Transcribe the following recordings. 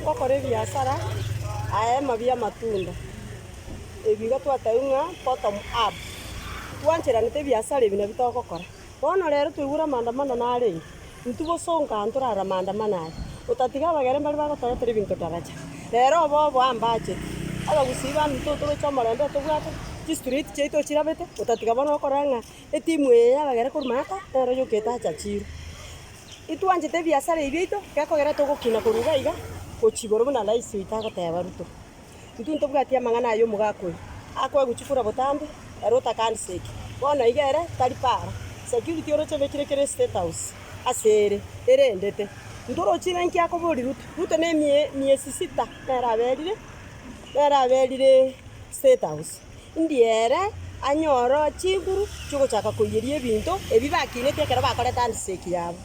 Gokora ebiasara aema bi'amatunda ebigo twataigwe ng'a bottom up, twancheranete ebiasara ebi nabio togokora. Bono rero twaigure amaandamano narenge, intwe bosongo aa ntorare amaandamano aya, otatiga abageni mbare bagotoretera ebinto daraja. Rero obobe ambachete, abagusii bande intwe otoroche omorembe otobwate, chistreet chiaito chirabete, otatiga bono okora ng'a etimu eye yabagera korwa maaka nero yokete acha chiro. Intwanchete ebiasara ebi biaito gekogera togokina korwa iga iga gochia igoro buna rais oito agoteba Ruto. Intwe ntobwati amang'ana aya omogaka oyo akoe gochia kura botambe ere otakanisa eke. Bono iga ere tari para, security oroche obekire kere state house ase ere erendete. Ntorochi ng'a inki akoboria Ruto. Ruto ne emie miesi sita nere aberire nere aberire state house. Indie ere anyore chinguru chiogochaka koiyeria ebinto ebi bakinete ekero bakorete handshake yabo.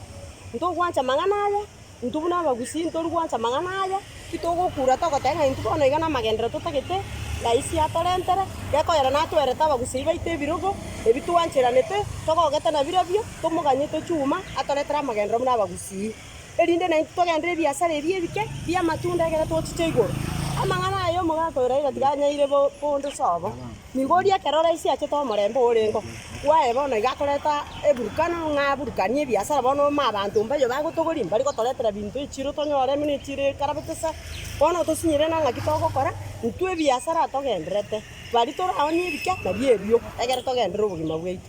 Ntogwancha amang'ana aya, intwe buna abagusii ntori gwancha amang'ana aya, titogokura togoteba ng'a intwe bono iga namagenderero totagete, rais atorentere, gekoyora natwerete abagusii baito ebirogo ebi twancheranete, togogete nabirobio, tomoganye tochie uma atoretere amagenderero buna abagusii. erinde naintwe togenderere ebiasara ebi ebike bi'amatunda ekero tochiche igoro. Amang'ana aya omogaka oyo Raila tiga anyaire bo bonde sobo. Nigo oria ekero rais achete omorembe orengo bwaye bono iga akoreta eburukano ng'a aburukanie ebiasara bono ome abanto mbayo bagotogori mbari gotoretera binto echiro tonyore buna echiro ekarabete sa. Bono otosinyire na ng'aki togokora, intwe ebiasara togendererete. Bari toraonie ebike nabio ebio ekero togenderere obogima bwaito.